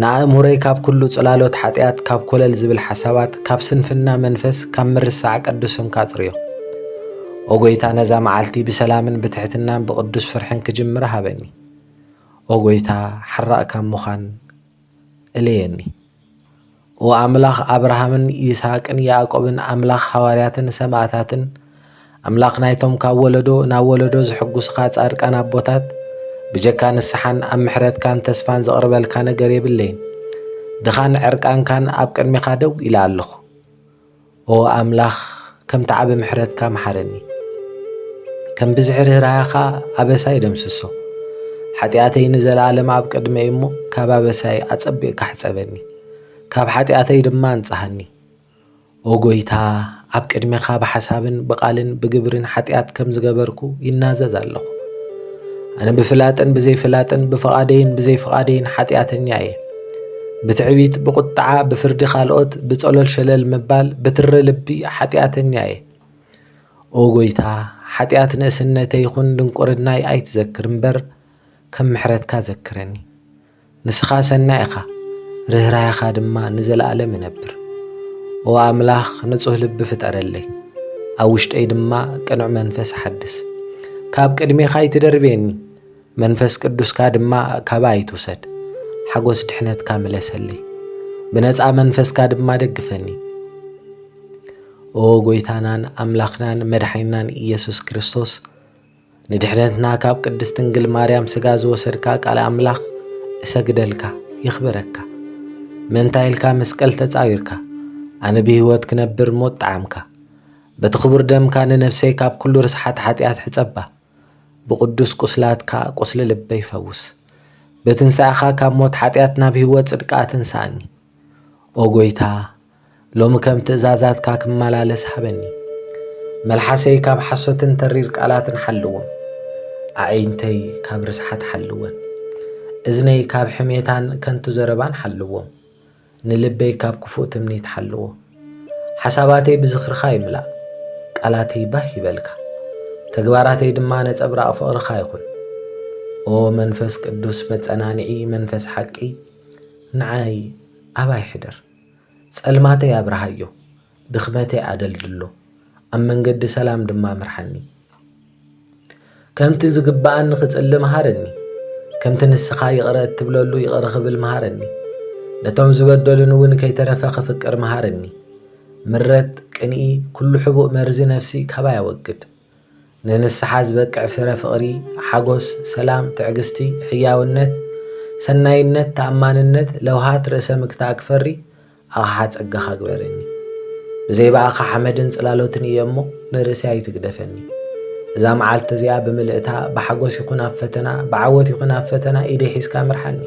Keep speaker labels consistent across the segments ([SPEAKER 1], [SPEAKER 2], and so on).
[SPEAKER 1] ንኣእምሮይ ካብ ኩሉ ጽላሎት ሓጢኣት፣ ካብ ኮለል ዝብል ሓሳባት፣ ካብ ስንፍና መንፈስ፣ ካብ ምርሳዕ ቅዱስ ስምካ ኣጽርዮ። ኦ ጐይታ ነዛ መዓልቲ ብሰላምን ብትሕትናን ብቕዱስ ፍርሕን ክጅምራ ሃበኒ። ኦ ጐይታ ሓራእ ካብ ምዃን እለየኒ። ኦ ኣምላኽ ኣብርሃምን ይስሃቅን ያእቆብን ኣምላኽ ሃዋርያትን ሰማእታትን ኣምላኽ ናይቶም ካብ ወለዶ ናብ ወለዶ ዝሕጉስኻ ጻድቃን ኣቦታት ብጀካ ንስሓን ኣብ ምሕረትካን ተስፋን ዝቕርበልካ ነገር የብለይን ድኻን ዕርቃንካን ኣብ ቅድሜኻ ደው ኢለ ኣለኹ ኦ ኣምላኽ ከምቲ ዓቢ ምሕረትካ መሓረኒ፣ ከም ብዝሒ ርህራሀኻ ኣበሳይ ደምስሶ። ሓጢኣተይ ንዘለኣለም ኣብ ቅድመይ እሞ ካብ ኣበሳይ ኣጸቢቕካ ሕጸበኒ፣ ካብ ሓጢኣተይ ድማ ኣንጽሃኒ። ኦ ጐይታ፣ ኣብ ቅድሜኻ ብሓሳብን ብቓልን ብግብርን ሓጢኣት ከም ዝገበርኩ ይናዘዝ ኣለኹ። ኣነ ብፍላጥን ብዘይፍላጥን ብፍቓደይን ብዘይፍቓደይን ሓጢኣተኛ እየ። ብትዕቢት፣ ብቑጥዓ፣ ብፍርዲ ካልኦት፣ ብጸሎል ሸለል ምባል፣ ብትሪ ልቢ ሓጢኣተኛ እየ። ኦ ጐይታ፣ ሓጢኣት ንእስነተይ ይኹን ድንቁርናይ ኣይትዘክር እምበር፣ ከም ምሕረትካ ዘክረኒ። ንስኻ ሰናይ ኢኻ፣ ርህራሄኻ ድማ ንዘለኣለም ይነብር። ኦ ኣምላኽ፣ ንጹህ ልቢ ፍጠረለይ፣ ኣብ ውሽጠይ ድማ ቅኑዕ መንፈስ ሓድስ። ካብ ቅድሜኻ ኣይትደርብየኒ፣ መንፈስ ቅዱስካ ድማ ካባይ ኣይትውሰድ፣ ሓጐስ ድሕነትካ ምለሰለይ፣ ብነጻ መንፈስካ ድማ ደግፈኒ። ኦ ጐይታናን ኣምላኽናን መድሓኒናን ኢየሱስ ክርስቶስ ንድሕነትና ካብ ቅድስት ድንግል ማርያም ስጋ ዝወሰድካ ቃል ኣምላኽ እሰግደልካ የኽብረካ። ምእንታይ ኢልካ መስቀል ተጻዊርካ ኣነ ብህይወት ክነብር ሞት ጣዕምካ በቲ ክቡር ደምካ ንነፍሰይ ካብ ኩሉ ርስሓት ሓጢኣት ሕጸባ። ብቅዱስ ቁስላትካ ቁስሊ ልበይ ፈውስ ብትንሳኤኻ ካብ ሞት ሓጢኣት ናብ ህይወት ጽድቂ ኣትንሳኣኒ ኦ ጎይታ ሎሚ ከም ትእዛዛትካ ክመላለስ ሃበኒ መልሓሰይ ካብ ሓሶትን ተሪር ቃላትን ሓልዎም ኣዒንተይ ካብ ርስሓት ሓልወን እዝነይ ካብ ሕሜታን ከንቱ ዘረባን ሓልዎም ንልበይ ካብ ክፉእ ትምኒት ሓልዎ። ሓሳባተይ ብዝኽርኻ ይምላእ፣ ቃላተይ ባህ ይበልካ፣ ተግባራተይ ድማ ነጸብራቕ ፍቕርኻ ይኹን። ኦ መንፈስ ቅዱስ መጸናንዒ መንፈስ ሓቂ ንዓይ ኣባይ ሕደር፣ ጸልማተይ ኣብርሃዮ፣ ድኽመተይ ኣደልድሎ፣ ኣብ መንገዲ ሰላም ድማ ምርሓኒ። ከምቲ ዝግብኣኒ ክጽሊ መሃረኒ፣ ከምቲ ንስኻ ይቕረ እትብለሉ ይቕረ ክብል መሃረኒ። ነቶም ዝበደሉኒ እውን ከይተረፈ ክፍቅር መሃረኒ። ምረት፣ ቅንኢ፣ ኩሉ ሕቡእ መርዚ ነፍሲ ካባይ ኣወግድ። ንንስሓ ዝበቅዕ ፍረ ፍቕሪ፣ ሓጎስ፣ ሰላም፣ ትዕግስቲ፣ ሕያውነት፣ ሰናይነት፣ ተኣማንነት፣ ለውሃት፣ ርእሰ ምክታእ ክፈሪ ኣኻሓ ጸጋኻ ግበረኒ። ብዘይ ብኣኻ ሓመድን ጽላሎትን እየ እሞ ንርእሰይ ኣይትግደፈኒ። እዛ መዓልቲ እዚኣ ብምልእታ ብሓጎስ ይኹን ኣብ ፈተና ብዓወት ይኹን ኣብ ፈተና ኢደይ ሒዝካ ምርሓኒ።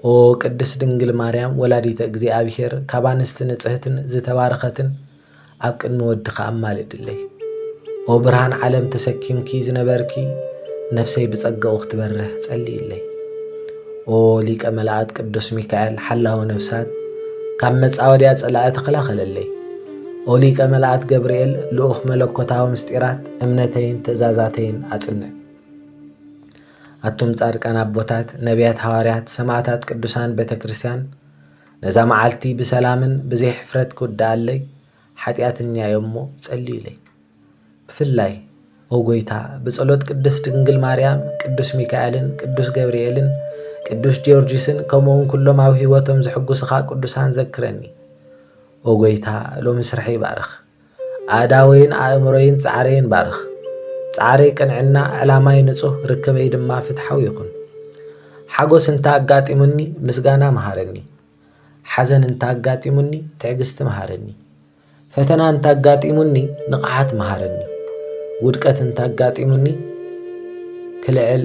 [SPEAKER 1] ኦ ቅድስት ድንግል ማርያም ወላዲተ እግዚኣብሔር ካብ ኣንስቲ ንጽህትን ዝተባረኸትን ኣብ ቅድሚ ወድኻ ኣማልድለይ። ኦ ብርሃን ዓለም ተሰኪምኪ ዝነበርኪ ነፍሰይ ብጸጋኡ ክትበርህ ጸልይለይ። ኦ ሊቀ መላእክት ቅዱስ ሚካኤል ሓላዊ ነፍሳት ካብ መጻወድያ ጸላኢ ተኸላኸለለይ። ኦ ሊቀ መላእክት ገብርኤል ልኡኽ መለኮታዊ ምስጢራት እምነተይን ትእዛዛተይን ኣጽንዕ። ኣቱም ጻድቃን ኣቦታት፣ ነቢያት፣ ሃዋርያት፣ ሰማዕታት፣ ቅዱሳን ቤተ ክርስቲያን ነዛ መዓልቲ ብሰላምን ብዘይ ሕፍረት ክውድኣለይ ሓጢኣተኛዮ እሞ ጸልዩለይ። ብፍላይ ኦ ጎይታ ብጸሎት ቅድስት ድንግል ማርያም፣ ቅዱስ ሚካኤልን፣ ቅዱስ ገብርኤልን፣ ቅዱስ ጊዮርጊስን ከምኡውን ኩሎም ኣብ ህይወቶም ዝሕጉስኻ ቅዱሳን ዘክረኒ። ኦ ጎይታ ሎሚ ስርሐይ ባርኽ። ኣእዳወይን ኣእምሮይን ጻዕረይን ባርኽ። ጻዕረይ ቅንዕና፣ ዕላማይ ንጹህ፣ ርክበይ ድማ ፍትሓዊ ይኹን። ሓጎስ እንተ ኣጋጢሙኒ ምስጋና መሃረኒ። ሓዘን እንተ ኣጋጢሙኒ ትዕግስቲ መሃረኒ። ፈተና እንተ ኣጋጢሙኒ ንቕሓት መሃረኒ። ውድቀት እንተ ኣጋጢሙኒ ክልዕል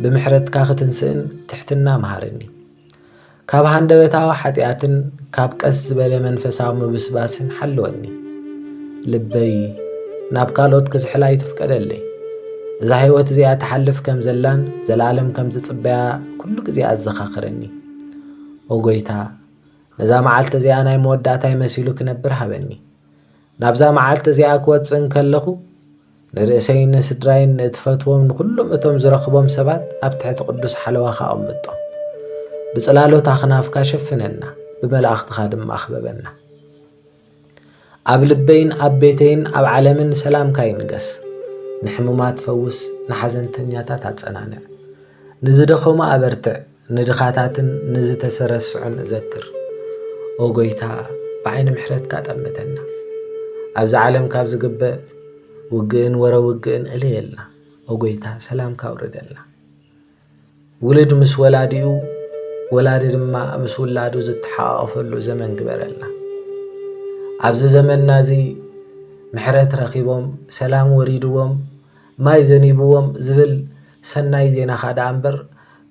[SPEAKER 1] ብምሕረትካ ክትንስእን ትሕትና መሃረኒ። ካብ ሃንደበታዊ ሓጢኣትን ካብ ቀስ ዝበለ መንፈሳዊ ምብስባስን ሓልወኒ ልበይ ናብ ካልኦት ክዝሕላ ይትፍቀደለይ እዛ ህይወት እዚኣ ትሓልፍ ከም ዘላን ዘለኣለም ከም ዝጽበያ ኩሉ ግዜ ኣዘኻኽረኒ ኦጎይታ ነዛ መዓልቲ እዚኣ ናይ መወዳእታይ መሲሉ ክነብር ሃበኒ ናብዛ መዓልቲ እዚኣ ክወጽእ እንከለኹ ንርእሰይን ንስድራይን ንእትፈትዎም ንዅሎም እቶም ዝረኽቦም ሰባት ኣብ ትሕቲ ቅዱስ ሓለዋኻ ኣቕምጦም ብጽላሎት ኣኽናፍካ ሸፍነና ብመላእኽትኻ ድማ ኣኽበበና ኣብ ልበይን ኣብ ቤተይን ኣብ ዓለምን ሰላምካ ይንገስ ንሕሙማት ፈውስ ንሓዘንተኛታት ኣጸናንዕ ንዝደኸሙ ኣበርትዕ ንድኻታትን ንዝተሰረስዑን እዘክር። ኦ ጎይታ ብዓይኒ ምሕረትካ ጠምተና። ኣብዚ ዓለም ካብ ዝግበር ውግእን ወረ ውግእን እለየልና። ኦ ጎይታ ሰላምካ ኣውርደልና። ውልድ ምስ ወላዲኡ ወላዲ ድማ ምስ ውላዱ ዝተሓቓቐፈሉ ዘመን ግበረልና ኣብዚ ዘመንና እዚ ምሕረት ረኺቦም ሰላም ወሪድዎም ማይ ዘኒብዎም ዝብል ሰናይ ዜናኻ ደኣ እምበር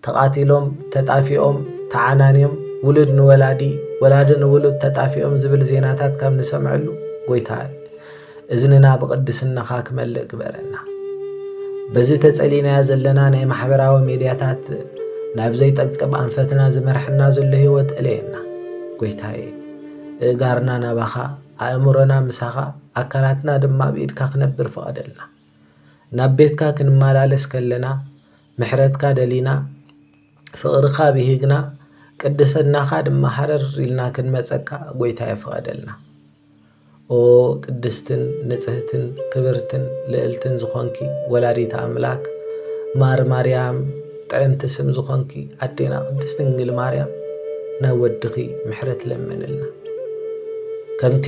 [SPEAKER 1] ተቓቲሎም፣ ተጣፊኦም፣ ተዓናንዮም፣ ውሉድ ንወላዲ፣ ወላዲ ንውሉድ ተጣፊኦም ዝብል ዜናታት ካብ ንሰምዐሉ፣ ጎይታይ፣ እዝንና ብቕድስናኻ ክመልእ ግበረና። በዚ ተጸሊናዮ ዘለና ናይ ማሕበራዊ ሜድያታት ናብ ዘይጠቅም ኣንፈትና ዝመርሐና ዘሎ ህይወት እለየና። ጎይታየ፣ እእጋርና ናባኻ፣ ኣእምሮና ምሳኻ፣ ኣካላትና ድማ ኣብ ኢድካ ክነብር ፍቐደልና። ናብ ቤትካ ክንመላለስ ከለና፣ ምሕረትካ ደሊና ፍቅርካ ብሂግና ቅድሰናካ ድማ ሃረር ኢልና ክንመጸካ ጎይታየ ፍቀደልና። ኦ ቅድስትን ንጽህትን ክብርትን ልእልትን ዝኮንኪ ወላዲተ ኣምላክ ማር ማርያም ጥዕምቲ ስም ዝኮንኪ ኣዴና ቅድስት ድንግል ማርያም ናይ ወድኺ ምሕረት ለምንልና ከምቲ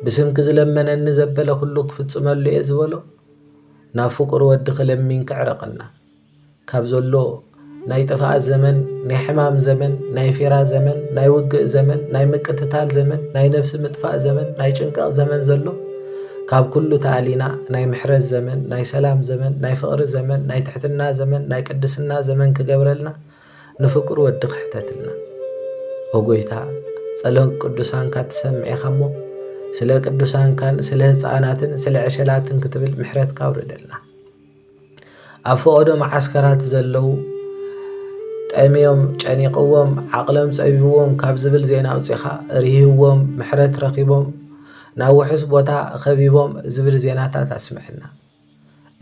[SPEAKER 1] ብስምኪ ዝለመነኒ ዘበለ ኩሉ ክፍጽመሉ እየ ዝበሎ ናብ ፍቁር ወድኺ ለሚን ክዕረቀና ካብ ዘሎ ናይ ጥፍኣት ዘመን ናይ ሕማም ዘመን ናይ ፊራ ዘመን ናይ ውግእ ዘመን ናይ ምቅትታል ዘመን ናይ ነፍሲ ምጥፋእ ዘመን ናይ ጭንቀቅ ዘመን ዘሎ ካብ ኩሉ ተኣሊና ናይ ምሕረት ዘመን ናይ ሰላም ዘመን ናይ ፍቅሪ ዘመን ናይ ትሕትና ዘመን ናይ ቅድስና ዘመን ክገብረልና ንፍቁር ወዲ ክሕተትልና ኦ ጎይታ ጸሎት ቅዱሳንካ ትሰምዕ ኢካ እሞ ስለ ቅዱሳንካን ስለ ህጻናትን ስለ ዕሸላትን ክትብል ምሕረትካ ኣውርደልና ኣብ ፈቐዶ መዓስከራት ዘለዉ ጠምዮም ጨኒቕዎም ዓቕሎም ጸቢብዎም ካብ ዝብል ዜና ኣውጺኻ ርህዎም ምሕረት ረኺቦም ናብ ውሑስ ቦታ ኸቢቦም ዝብል ዜናታት ኣስምዐና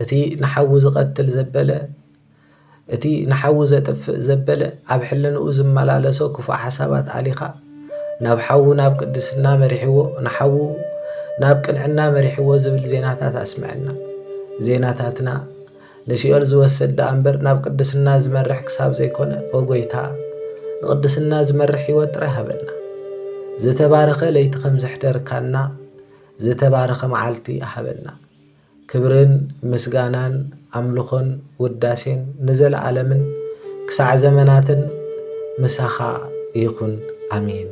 [SPEAKER 1] እቲ ንሓዉ ዝቐትል ዘበለ፣ እቲ ንሓዉ ዘጥፍእ ዘበለ፣ ኣብ ሕልንኡ ዝመላለሶ ክፉእ ሓሳባት ኣሊኻ፣ ናብ ሓዉ ናብ ቅድስና መሪሕዎ፣ ንሓዉ ናብ ቅንዕና መሪሕዎ ዝብል ዜናታት ኣስምዐና። ዜናታትና ንሲኦል ዝወሰድ ደኣ እምበር ናብ ቅድስና ዝመርሕ ክሳብ ዘይኮነ፣ ኦ ጎይታ ንቅድስና ዝመርሕ ህይወት ጥራይ ሃበና። ዝተባረኸ ለይቲ ከም ዘሕደርካና፣ ዝተባረኸ መዓልቲ ሃበና። ክብርን ምስጋናን ኣምልኾን ውዳሴን ንዘለዓለምን ክሳዕ ዘመናትን ምሳኻ ይኹን ኣሜን።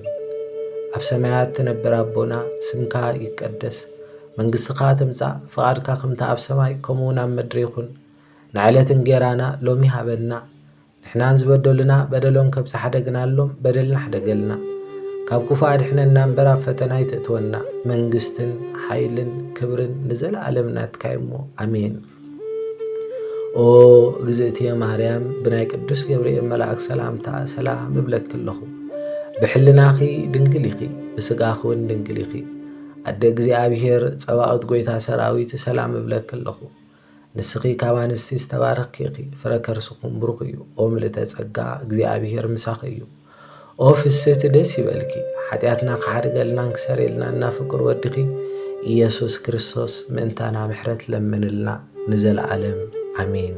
[SPEAKER 1] ኣብ ሰማያት ትነብር ኣቦና ስምካ ይቀደስ መንግስትኻ ትምጻእ ፍቓድካ ከምቲ ኣብ ሰማይ ከምኡውን ኣብ ምድሪ ይኹን ንዕለት እንጌራና ሎሚ ሃበና ንሕናን ዝበደሉና በደሎም ከብጽሕ ሓደግናሎም በደልና ሓደገልና ካብ ክፉ ኣድሕነና እምበር ኣብ ፈተና ኣይተእትወና መንግስትን ሓይልን ክብርን ንዘለኣለም ናትካ እሞ ኣሜን ኦ እግዝእትየ ማርያም ብናይ ቅዱስ ገብርኤል መልኣክ ሰላምታ ሰላም እብለኪ ኣለኹ ብሕልናኺ ድንግል ኢኺ ብስጋኺ እውን ድንግል ኢኺ ኣደ እግዚኣብሔር ጸባኦት ጎይታ ሰራዊት ሰላም እብለኪ ኣለኹ ንስኺ ካብ ኣንስቲ ዝተባረኽኪ ኢኺ ፍረ ከርስኹም ብሩኽ እዩ ኦ ምልእተ ጸጋ እግዚኣብሄር ምሳኺ እዩ ኦ ፍስህቲ ደስ ይበልኪ ሓጢኣትና ክሓድገልናን ክሰርየልናን እና ፍቅር ወድኺ ኢየሱስ ክርስቶስ ምእንታና ምሕረት ለምንልና ንዘለዓለም ኣሜን